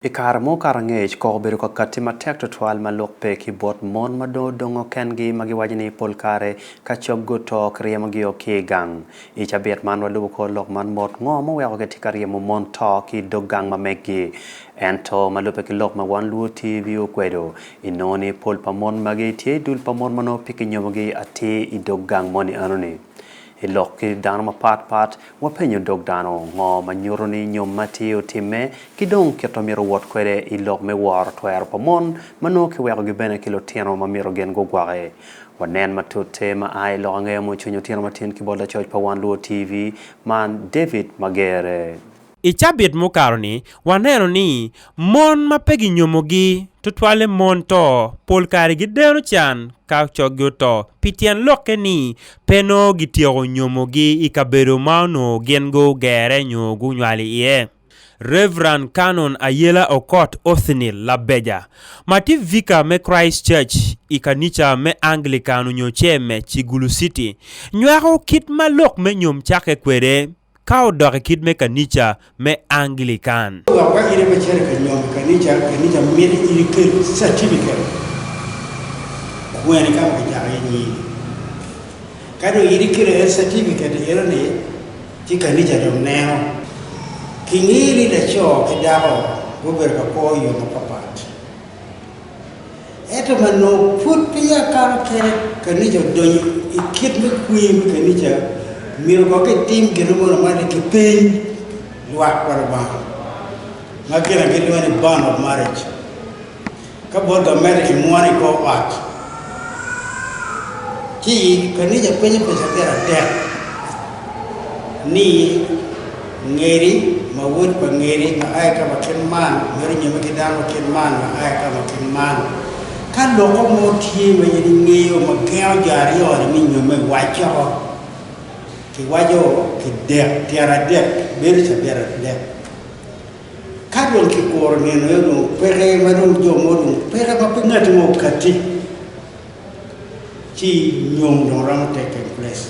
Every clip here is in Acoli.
I kare mo kato angec koko obedo ka katti matek twatwal ma lok pe ki bot mon ma dong odongo kengi ma giwaco ni pol kare ka cog guto kiryemogio ki i gang. I cabit man walubo kor lok man mot, Ngo ma oweko kitye ka ryemo mon to ki i dog gang ma meggi? Ento, ma lubbe ki lok ma wan luo TV okwedo, inongo ni pol pa mon magi tye i dul pa mon ma nongo pe kinyomogi atir i dog gang moni enoni. I lok ki dano mapat pat, wapenyo dog dano ngo ma nyuto ni nyom ma tye otimme ki dong kit ma myero owot kwede i lok me woro twero pa mon ma nongo kiwekogi bene ki lutino ma myero gin gugwoki. Wanen matute ma a i lok angeyo mucwiny otino matin ki bot lacoc pa Wan Luo TV man David Magere. I cabit mukato-ni, waneno ni mon ma pe ginyomogi, tutwalle mon to, pol kare gideno can ka coggi oto pi tyen lokke ni pe nongo gityeko nyomogi i kabedo ma onongo gin gugerre nyo gunywali iye. Rev. Canon Ayela Okot Othniel Labeja, ma tye vika me Christ Church i kanica me Anglican onyo CEME, Kigulu City, nywako kit ma lok me nyom cakke kwede. Ka odok i kit me kanica me Anglikan. Dok ka in ape cito i kanyom kanica, kanica miti in ikel catibiketi kweni ka ma kicako iye nyingi. Ka dong in ikelo aye catibiketi eno ni, ci kanica dong neno. Kingeyo ni laco ki dako gubedo ka kwo i yo mapapat. Ento ma nongo pud peya akato kene, kanica odonyo i kit me kwir me kanica, myero kono kitim gin mo lamal-li, kipeny lwak pa Lubanga, ma gin na gilwongo ni bond of marriage. Ka bot gamente kimwono i kor ot, ci kanica penyo peca pyeratek ni. Ngeri, ma wod pa Ngeri, ma a i ka ma kit man mere onyome ki dano ma kit man, ma a i ka ma kit man. Ka loko mo tye ma in ingeyo ma gengo jo aryo-ni me nyomme, wacce woko. Kiwaco ki dek, tyen adek, bedo cabit adek. Ka dong kikuro nino aye dong opeke, ma dong jo mo dong opeke ma pe ngati mo okatti, ci nyom dong romo take in place.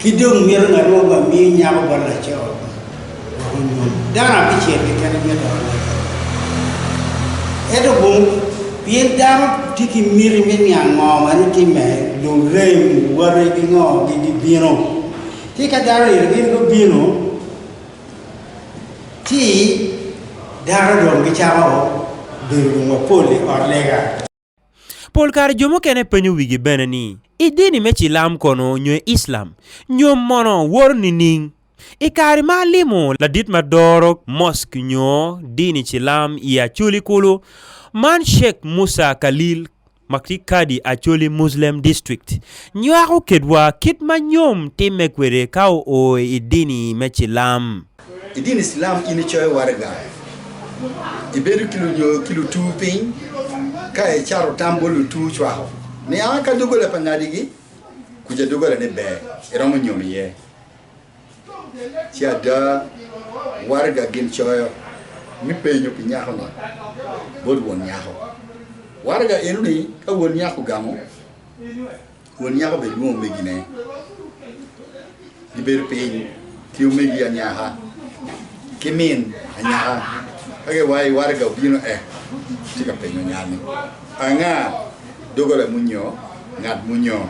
Ki dong mito ngat mo ba miyo nyako bot laco wek onyom. Dano abicel keken aye doko lege. Ento bong, pien dano tye ki miti me niang ngo ma ni timme, lurem, wate ki ngo gi gibino. Ci ka dano eni gin gubino, ci dano dong gicako bedo dong mapol i ot lega. Pol kare jo mukene penyo wigi bene ni, 'I dini me Cilam kono nyo i Islam, nyom mono woro nining? I kare ma alimo ladit ma doro mosk nyo dini Cilam i Acholi kulu, man Sheikh Musa Khalil ma tye Kadi Acholi Muslem District, nywako kedwa kit ma nyom timme kwede ka oo i dini me Cilam. I dini Cilam in icoyo waraga, ibedo ki lutur piny ka icato tam bot lutur cwako niang aka doggola pa ngadigi kuca doggola ne ber iromo nyom iye. Ci ada waraga gin coyo me penyo pi nyako ni bot won nyako. Waraga eno ni ka won nyako ogamo. Won nyako bene lwongo omegine, gibedo piny ki omegi anyaka ki min anyaka. Ka giwayo, waraga obino ek tye ka penyo nyal ni, Anga doggola muni nyo ngat muni oo?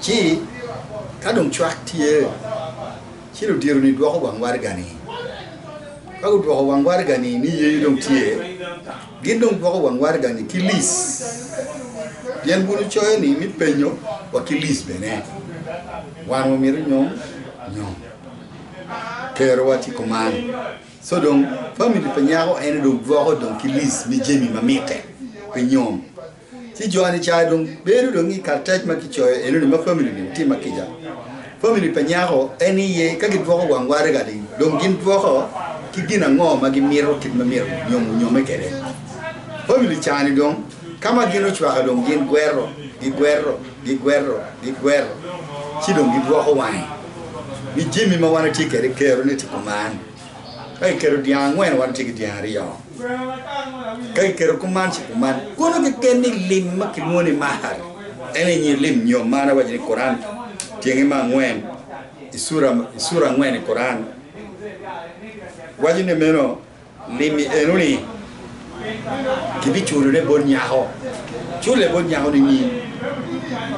Ci ka dong cwak tye, ci ludito-ni dwoko wang waraga-ni. Ka gudwoko wang waraga-ni ni yeyo dong tye, Gin dong gwoko wang waraga-ni ki lic, pien bulu coyo ni me penyo wa ki lic bene. Wan wamito nyom nyom. Kerowa tye kuman. Co dong famili pa nyako ene dong gwoko dong ki lic me jami ma mitte pi nyom. Ci jo Anicayo dong bino dong i karatac ma kicoyo enoni ma famili ni tye ma kica. Famili pa nyako en iye ka gidwoko wang waraga ni dong gin dwoko ki gin ango ma gimito kit ma myero nyom onyome kwede. Famili ca ni dong ka ma gin ocwaka dong gin gwero, gigwero, gigwero, gigwero ci dong gidwoko wange ni jami ma wan atye kwede kero ni tye kuman. Ka kiketo dyang angwen wa tye ki dyang aryo, ka kiketo kuman ci kuman. Kono keken ni lim ma kilwongo ni mahar en aye nyir lim nyo man awaco ni Kuran tyenge me angwen i cura i cura angwen i Kuran waco ni meno lim-mi eno ni kibiculone bot nyako, culle bot nyako nining?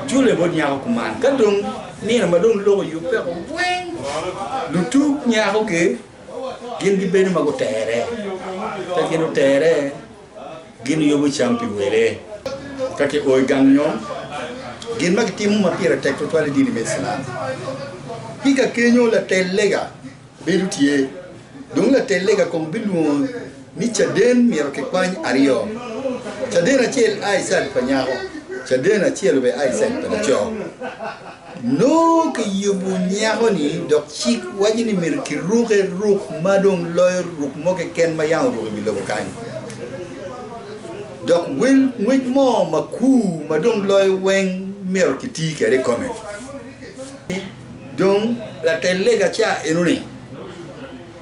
Culle bot nyako kuman. Ka dong nino ma dong lok oyubbe woko weng, lutug nyako-gi gin gibedo ma gutere. Ka gin otere, gin yubo cam pi wele. Ka kio i gang nyom, gin ma kitimo ma pire tek tutwal i dini me Iclam, tika kenyo latel lega? Bedo tye. Dong latel lega kobo bilwongo ni caden myero kikwany aryo, caden acel a i caid pa nyako, caden acel obed a i caid pa laco. Nongo kiyubo nyako-ni dok cik waco ni myero kiruke ruk ma dong loyo ruk mo keken ma yam oruko i wi lobo kany. Dok wel ngwec mo makur ma dong loyo weng myero kiti kwede i kome. Dong latel lega ca enoni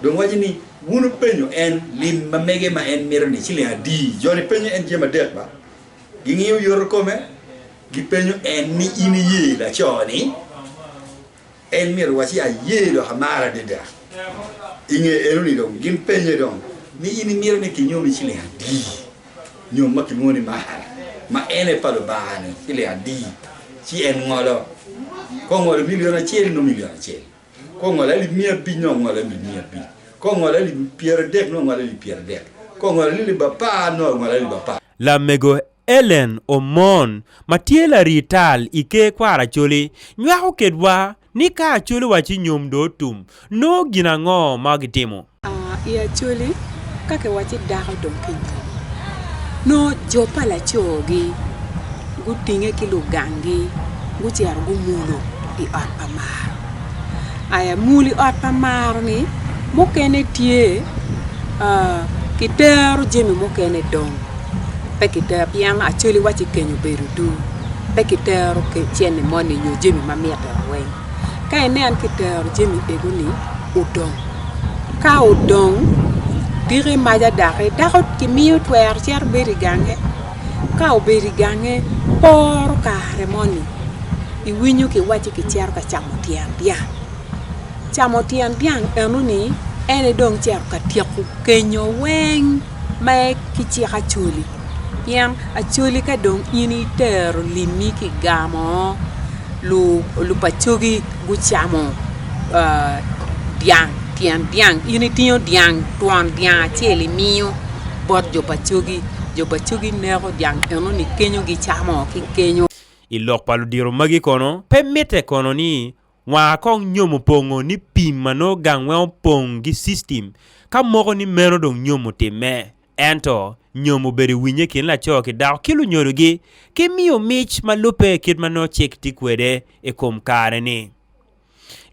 dong waco ni, Wun wupenyo en lim ma mege ma en mito-ni ciling adi? Jo-ni penyo en jami adek ba, gingiyo yoto kome, gipenyo en ni, In iye laco-ni? En myero owac ni, Aye, dok amare adada. I nge enoni dong gin penye dong ni, In imito ni kinyomi ciling adi? nyo ma kilwongo ni mahar, ma en aye pa Lubanga-ni ki lik adi, ci en ngolo. Ka ongolo milion acel, nongo milion acel, ka ongolo alip miya abic, nongo ongolo alip miya abic, ka ongolo alip pyeradek, nongo ongolo alip pyeradek, ka ongolo alip apar, nongo ongolo alip apar. Lamego Ellen Omon ma tye larital i Ker Kwar Acholi nywako kedwa Ni ka Acholi wa ci nyom do otum, nongo gin ango ma gitimo? I Acholi, ka kiwacci dako dong ki nyom, nongo jo pa laco-gi gutinge ki lugangi gucito gumulo i ot pa maro. Aya, mul i ot pa maro-ni mukene tye kitero jami mukene dong pe kitero pien Acholi wa ci kenyo bedo duu. pe kitero cente moni nyo jami ma mitte weng. Ka inen ki tero jami ego ni odong, ka odong diki maca daki dako ki miyo twero cito bedo i gange, ka obedo i gange poro kare moni i winyo ki wacci ki cito ka camo tyen dyang, camo tyen dyang eno ni en aye dong cito ka tyeko kenyo weng ma ki cik acoli. Pien Acholi ka dong in itero limmi ki gamo, lupacogi gucamo dyang, tyen dyang, in itingo dyang twon dyang acel imiyo bot jo pa cogi, jo pa cogi neko dyang enoni kenyo gicamo ki kenyo. I lok pa ludito magi kono, pe mitte kono ni Nwaa kong nyomo pongo ni pim ma nongo gang weng opong gi system ka moko ni meno dong nyomo otimme. Ento nyomo obedo i winye kin laco ki dako ki lunyodo gi ki miyo mic ma lubbe kit ma nongo cik tye kwede i kom kare ni.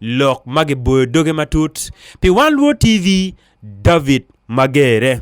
Lok ma giboyo doge matut pi Wan Lwor TV, David Magere.